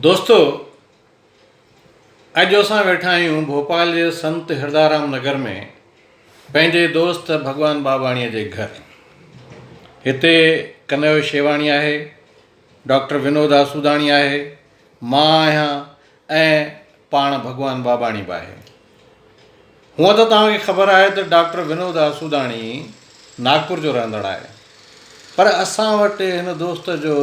دوستو اڄ اسان ويٺا آهيون ڀوپال جي سنت هردارام نگر ۾ پنهنجي دوست ڀڳوان باباڻيء جي گهر هتي ڪنيو شيواڻي آهي ڊاڪٽر ونود آسوداڻي آهي مان آهيان ۽ پاڻ ڀڳوان ٻاٻاڻي به آهي. هونء ته توهان کي خبر آهي ته ڊاڪٽر ونود آسوداڻي ناگپور جو رهندڙ آهي، پر اسان وٽ هن دوست جو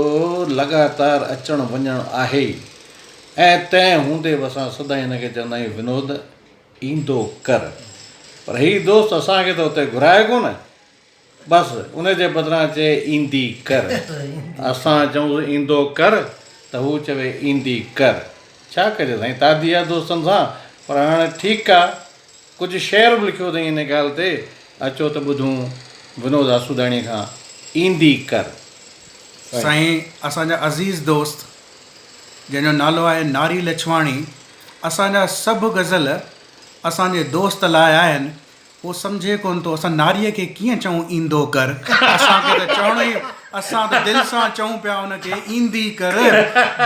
لڳاتار اچڻ وڃڻ آهي ئي ۽ تنهن هوندي به اسان سدائين هن کي چوندا آهيون ونود ايندو ڪر، پر هي دوست اسان کي ته اتي گهرائي ڪونه. بس ان جي بدران چئي ايندي ڪر. اسان چئونس ايندو ڪر ته هو چوي ايندي ڪر. ڇا ڪجي سائين تادي آ دوستن سان پر هاڻي ٺيڪ آ ڪجهه شعر به لکيو اٿئين ان ڳالهه تي اچو ته ٻڌون ونود آسوداڻي کان ايندي ڪر سائين. سائين اسان جا عزيز دوست جنهن جو نالو آهي ناري لڇواڻي اسان جا سڀ غزل اسان جي دوست لاء آهن هو سمجهي ڪونه ٿو اسان ناريء کي ڪيئن چئون ايندو ڪر اسان کي ته چوڻو ئي اسان ته دل سان چئون پيا ان کي ايندي ڪر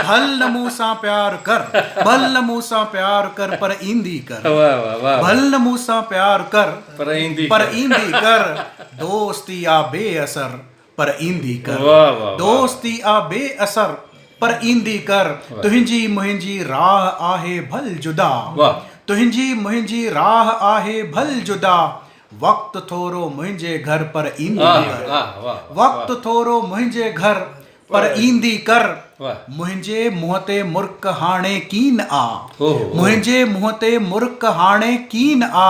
ڀل نه مون سان پيار ڪر ڀل نه مون سان پيار ڪر پر ايندي ڪر ڀل نه مون سان پيار ڪر پر ايندي ڪر دوستي آ بي اثر پر ايندي ڪر دوستي آ بي اثر پر ايندي ڪر تنهنجي منهنجي راهه آهي ڀل جدا تنهنجي منهنجي راهه آهي ڀل جدا وقت ٿورو منهنجي گهر پر ايندي ڪر وقت ٿورو منهنجي گهر پر ايندي ڪر منهنجي منهن تي مرڪ هاڻي ڪين آ منهنجي منهن تي مرڪ هاڻي ڪين آ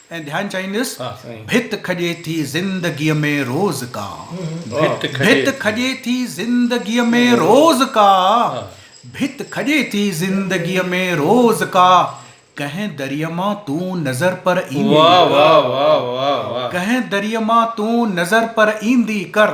۽ ڌيان چاهيندس، ڀت کڄي ٿي زندگيء ۾ روز ڪا، ڀت کڄي ٿي زندگيء ۾ روز ڪا، ڀت کڄي ٿي زندگيء ۾ روز ڪا، ڪنهن دريء مان تون نظر پر ايندي ڪر، ڪنهن دريء مان تون نظر پر ايندي ڪر،